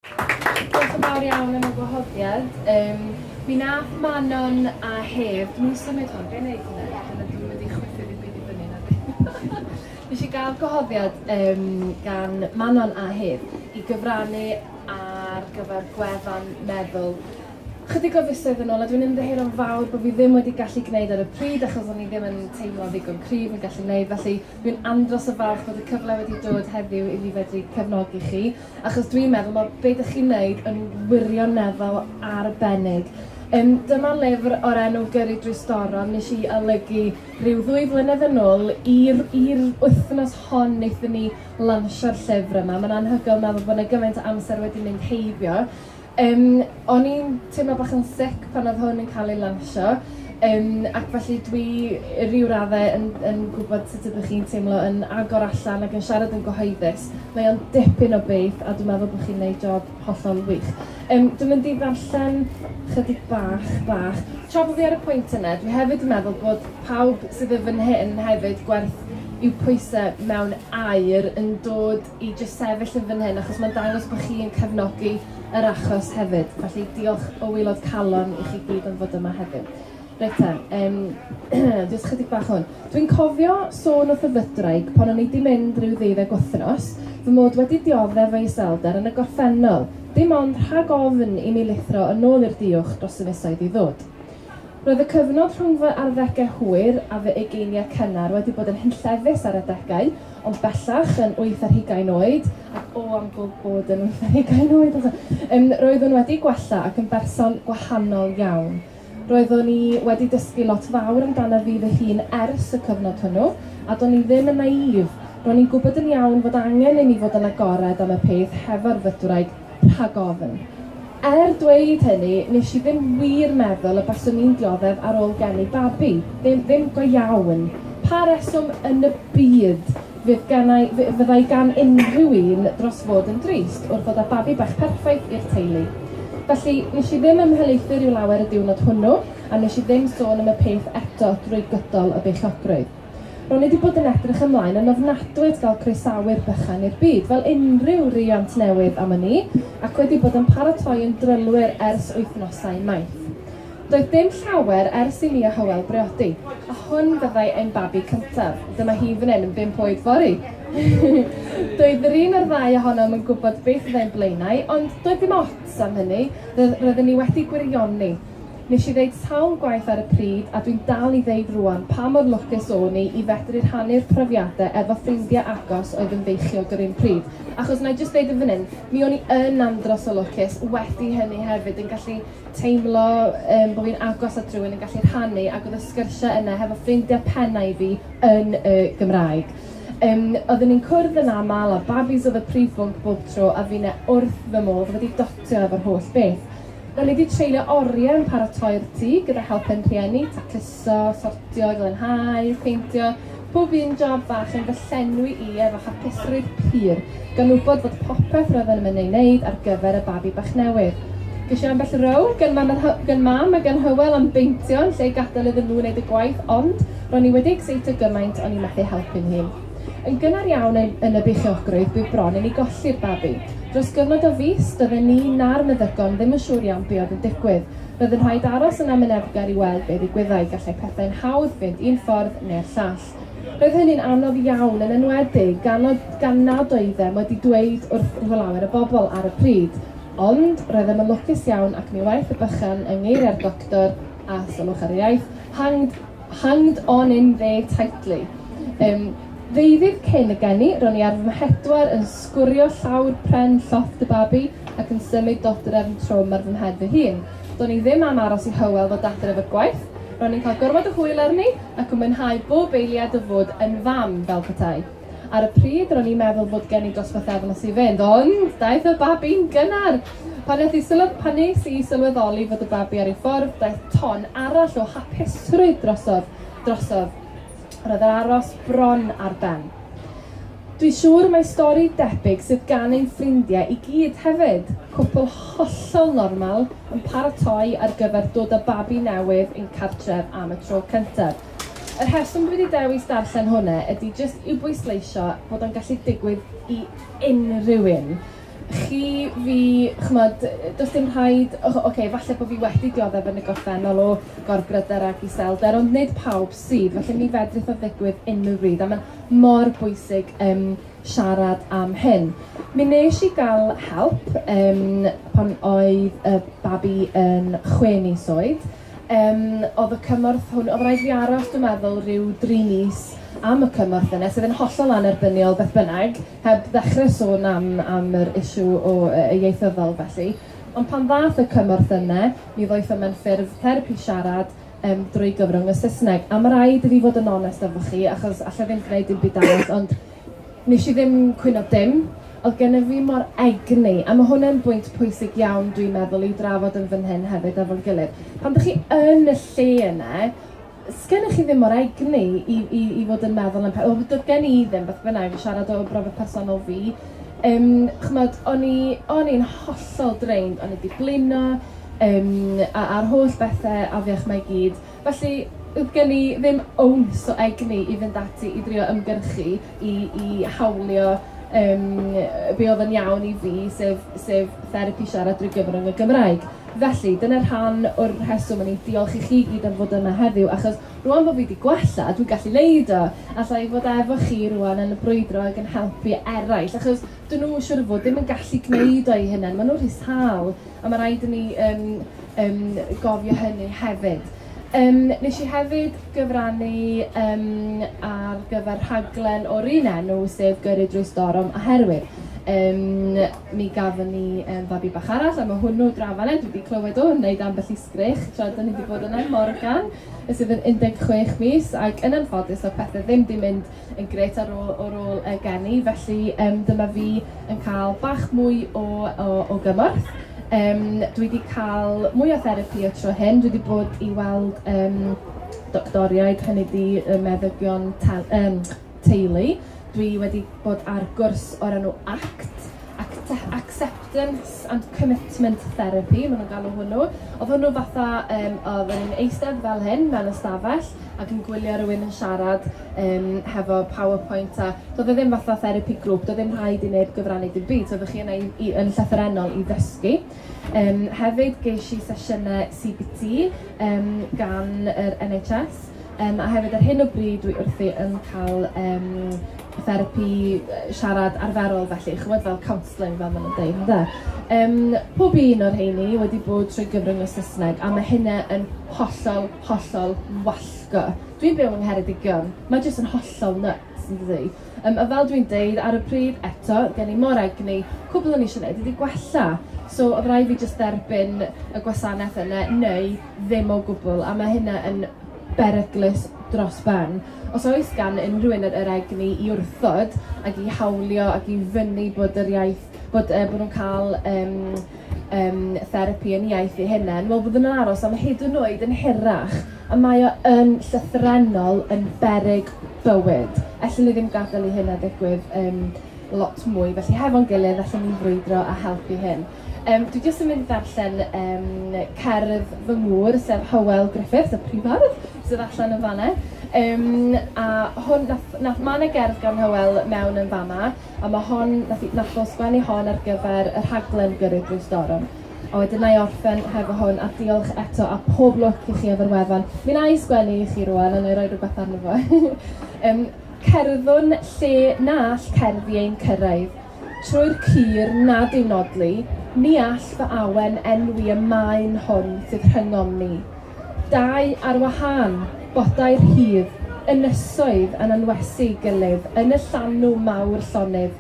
Diolch yn fawr iawn am y gwahoddiad. Um, mi nath Manon a Hef, dwi'n symud hwn, be'n neud hwnna? Dyna dwi'n mynd i chwythu ddim byd i fyny na di. Nes i gael gwahoddiad um, gan Manon a Hef i gyfrannu ar gyfer gwefan meddwl chydig o fisoedd yn ôl a dwi'n ymddiheuro'n fawr bod fi ddim wedi gallu gwneud ar y pryd achos o'n i ddim yn teimlo ddigon cryf yn gallu gwneud felly dwi'n andros o falch bod y cyfle wedi dod heddiw i fi fedru cefnogi chi achos dwi'n meddwl mae be dych chi'n neud yn wirioneddol arbennig. Um, dyma lyfr o'r enw Gyrru drwy Storom nes i olygu rhyw ddwy flynedd yn ôl i'r wythnos hon wnaethon ni lansio'r llyfr yma. Mae'n anhygoel meddwl bod yna gymaint o amser wedi mynd heibio. Yym, o'n i'n teimlo bach yn sic pan odd hwn yn ca'l ei lansio yym ac felly dwi i ryw radde yn yn gwbod sut ydych chi'n teimlo yn agor allan ac yn siarad yn gyhoeddus. Mae o'n dipyn o beth a dwi meddwl bo' chi'n neud job hollol wych. Yym dwi mynd i ddarllen chydig bach bach. Tra bo' fi ar y pwynt yna, dwi hefyd yn meddwl bod pawb sydd yn fyn hyn hefyd gwerth i'w pwyse mewn aur yn dod i jyst sefyll yn fan hyn achos mae'n dangos bod chi yn cefnogi yr achos hefyd. Felly diolch o waelod calon i chi gyd am fod yma heddiw. Reit ta, um, jyst chydig bach hwn. Dwi'n cofio sôn wrth y fydraig pan o'n i wedi mynd rhyw ddeuddeg wythnos, fy mod wedi dioddef o'i selder yn y gorffennol, dim ond rhag ofn i mi lithro yn ôl i'r diwch dros y misoedd i ddod. Roedd y cyfnod rhwng fy arddegau hwyr a fy ugeiniau cynnar wedi bod yn hunllefus ar adegau, ond bellach yn wyth ar hugain oed, ac o am bod yn wyth ar hugain oed eto, um, roeddwn wedi gwella ac yn berson gwahanol iawn. Roeddwn i wedi dysgu lot fawr amdano fi fy hun ers y cyfnod hwnnw, a do'n i ddim yn naïf. Ro'n i'n gwybod yn iawn fod angen i mi fod yn agored am y peth hefo'r fytwraig Rhag ofn. Er dweud hynny, nes i ddim wir meddwl y baswn i'n dioddef ar ôl geni babi. Ddim, ddim go iawn. Pa reswm yn y byd fydd gennau, fy- fyddai gan unrhyw un dros fod yn drist wrth ddod â babi bach perffaith i'r teulu? Felly, nes i ddim ymhelaethu rhyw lawer y diwrnod hwnnw, a nes i ddim sôn am y peth eto drwy gydol y beichiogrwydd. Ro'n i 'di bod yn edrych ymlaen yn ofnadwy at gael croesawu'r bychan i'r byd, fel unrhyw riant newydd am wn i, ac wedi bod yn paratoi yn drylwyr ers wythnosau maith. Doedd dim llawer ers i mi a Hywel briodi, a hwn fyddai ein babi cyntaf. Dyma hi fan hyn yn bump oed fory! doedd yr un o'r ddau ohonom yn gwybod beth fyddai'n blaenau, ond doedd dim ots am hynny, roedden ni wedi gwirioni. Nes i ddeud sawl gwaith ar y pryd, a dwi'n dal i ddeud rŵan, pa mor lwcus o'n i i fedru rhannu'r profiadau efo ffrindiau agos oedd yn feichiog yr un pryd. Achos, wna i jyst ddeud yn fan hyn, mi o'n i yn andros o lwcus wedi hynny hefyd, yn gallu teimlo um, bod fi'n agos at rhywun, yn gallu rhannu, ac oedd y sgyrsiau yna hefo ffrindiau pennau fi yn y Gymraeg. Um, oedden ni'n cwrdd yn aml a babis oedd y prif bwnc bob tro a fi'n e wrth fy modd wedi dotio efo'r holl beth. Rydyn ni wedi treulio oriau yn paratoi'r tŷ gyda help ein rhieni, tacluso, sortio, glanhau, peintio, pob un job fach yn fy llenwi i efo hapusrwydd pur, gan wybod fod popeth roedden yn ei wneud ar gyfer y babi bach newydd. Ges i ambell row gan mam, gan mam a gan Hywel am beintio yn lle gadael iddyn nhw wneud y gwaith ond ro'n i wedi exeitio gymaint o'n i methu helpu'n hun. Yn gynnar iawn yn, yn y beichiogrwydd, bydd bron i ni golli'r babi. Dros gyfnod o fis, doedden ni na'r meddygon ddim yn siŵr iawn be oedd yn digwydd. Roedd yn rhaid aros yn amyneddgar i weld be ddigwyddai, gallai pethau'n hawdd fynd un ffordd neu'r llall. Roedd hynny'n anodd iawn, yn enwedig gan, o, gan nad oeddem wedi dweud wrth lawer o bobl ar y pryd. Ond, roeddem yn lwcus iawn ac mi waeth y bychan yng ngeiriau'r doctor, a sylwch ar y iaith, hanged Hanged on in there tightly. Yym, ddeuddydd cyn y geni, ro'n i ar fy mhedwar yn sgwrio llawr pren llofft y babi ac yn symud dodrefn trwm ar fy mhen fy hun. Do'n i ddim am aros i Hywel ddod adref o'r gwaith, ro'n i'n cael gormod o hwyl arni ac yn mwynhau bob eiliad o fod yn fam, fel petai. Ar y pryd, ro'n i'n meddwl bod gen i dros bythefnos i fynd, ond daeth y babi'n gynnar! Pan nes i sylw- pan nes i sylweddoli fod y babi ar ei ffordd, daeth ton arall o hapusrwydd drosodd. drosodd. Roedd yr aros bron ar ben. Dwi'n siŵr mae stori debyg sydd gan ein ffrindiau i gyd hefyd. Cwpl hollol normal yn paratoi ar gyfer dod â babi newydd i'n cartref am y tro cyntaf. Y rheswm dwi 'di dewis darllen hwnna ydy jyst i'w bwysleisio bod o'n gallu digwydd i unrhyw un. Chi, fi, ch'mod, does dim rhaid, o- ocê, falle bod fi wedi dioddef yn y gorffennol o gorbryder ac iselder, ond nid pawb sydd, felly mi fedrith o ddigwydd unrhyw bryd, a mae'n mor bwysig um, siarad am hyn. Mi nes i gael help um, pan oedd y babi yn chwe mis oed, Yym odd y cymorth hwn... Odd raid fi aros dwi meddwl ryw dri mis am y cymorth yna sydd yn hollol annerbyniol beth bynnag, heb ddechre sôn am am yr issue o yy yy ieithyddol felly. Ond pan ddath y cymorth yna mi ddoeth o mewn ffurf therapi siarad yym drwy gyfrwng y Saesneg a ma' raid i fi fod yn onest efo chi achos alla i ddim gneud dim byd arall ond Nes i ddim cwyno dim. Oedd gennyf fi mor egni, a mae hwn yn bwynt pwysig iawn dwi'n meddwl i'w drafod yn fan hyn hefyd efo'n gilydd. Pan dych chi yn y lle yna, sgennych chi ddim mor egni i, i, i fod yn meddwl am pethau. Wel, doedd gen i ddim, beth bynnag, i siarad o brofiad personol fi. Um, chymod, o'n i'n hollol drained, o'n i wedi blino, um, a'r holl bethau afiach mae gyd. Felly, doedd gen i ddim ounce o egni i fynd ati i drio ymgyrchu i i hawlio yym be oedd yn iawn i fi, sef sef therapi siarad drwy gyfrwng y Gymraeg. Felly, dyna rhan o'r rheswm o'n i'n diolch i chi i gyd am fod yma heddiw, achos rŵan bod fi 'di gwella, dwi'n gallu wneud o. Alla i fod efo chi rŵan yn brwydro ac yn helpu eraill, achos 'dyn nhw, siŵr o fod, ddim yn gallu gwneud o eu hunain, maen nhw'n rhy sâl. A ma' raid i ni yn yn gofio hynny hefyd. Yym nes i hefyd gyfrannu yym ar gyfer rhaglen o'r un enw, sef Gyrru Drwy Storm oherwydd yym mi gafon ni yym fabi bach arall a ma' hwnnw draw fan 'na, dwi 'di clywed o yn wneud ambell i sgreech tra 'dan ni 'di bod yna, Morgan, sydd yn 16 mis ac yn anffodus do'dd pethe ddim 'di mynd yn grêt ar ôl o'r ôl y geni, felly um, dyma fi yn cael bach mwy o, o, o gymorth. Um, dwi wedi cael mwy o therapi y tro hyn, dwi wedi bod i weld um, doctoriaid, hynny di y meddygion um, teulu. Dwi wedi bod ar gwrs o'r enw ACT, Act Acceptance and Commitment Therapy, maen nhw'n galw hwnnw. Oedd hwnnw fatha, um, oedd yn eistedd fel hyn mewn ystafell ac yn gwylio rhywun yn siarad um, hefo PowerPoint a doedd e ddim fatha therapi grŵp, doedd ddim rhaid i neb gyfrannu dim byd, so oeddech chi yna i, i, yn llythyrennol i ddysgu. Um, hefyd ges i sesiynau CBT um, gan yr NHS um, a hefyd ar hyn o bryd dwi wrthi yn cael um, therapi, siarad arferol felly, ch'mod fel counselling fel maen nhw'n dweud, ynde? Um, pob un o'r rheini wedi bod trwy gyfrwng y Saesneg a mae hynna yn hollol, hollol wallgo. Dwi'n byw yng Ngheredigion, mae jyst yn hollol nuts yn dydi? Um, a fel dwi'n deud ar y pryd eto, gen i mor egni, cwbl o'n eisiau gwneud ydy gwella. So oedd rhaid fi jyst derbyn y gwasanaeth yna neu ddim o gwbl a mae hynna yn beryglus dros ben. Os oes gan unrhyw un yr yr egni i wrthod ac i hawlio ac i fynnu bod yr iaith bod yy bo' nhw'n ca'l yym yym therapi yn iaith eu hunen, wel fyddwn yn aros am hyd yn oed yn hirach, a mae o yn llythrennol yn beryg bywyd. Ellwn ni ddim gadel i hynna ddigwydd yym lot mwy, felly hefo'n gilydd allwn ni frwydro a helpu hyn. Yym, dwi jyst yn mynd i ddarllen yym, cerdd fy ngŵr, sef Hywel Griffiths, y prif ardd, sydd allan yn fanna. Um, a hwn, nath, nath, mae yna gerdd gan Hywel mewn yn fama, a mae hon, nath, nath o sgwennu hon ar gyfer y rhaglen gyrru drwy storm. A wedyn na i orffen hefo hwn, a diolch eto, a pob lwc i chi efo'r wefan. Mi na i sgwennu i chi rwan, a na i roi rhywbeth arno fo. um, cerddwn lle na all cerddi ein cyrraedd. trwy'r cur nad yw nodli, ni all fy awen enwi y maen hwn sydd rhyngom ni. Dau ar wahân, bodau rhydd, ynysoedd yn anwesu gilydd yn y llanw mawr llonydd,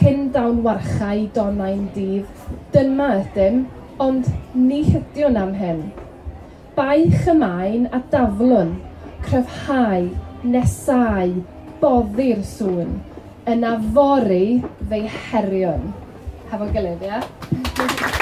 cyn dawn warchae donau'n dydd. Dyma ydym, ond ni hydiwn am hyn. Baich y maen a daflwn, cryfhau, nesau, boddi'r sŵn, yna fory fe'i heriwn. Hefo'n gilydd, ie? Yeah?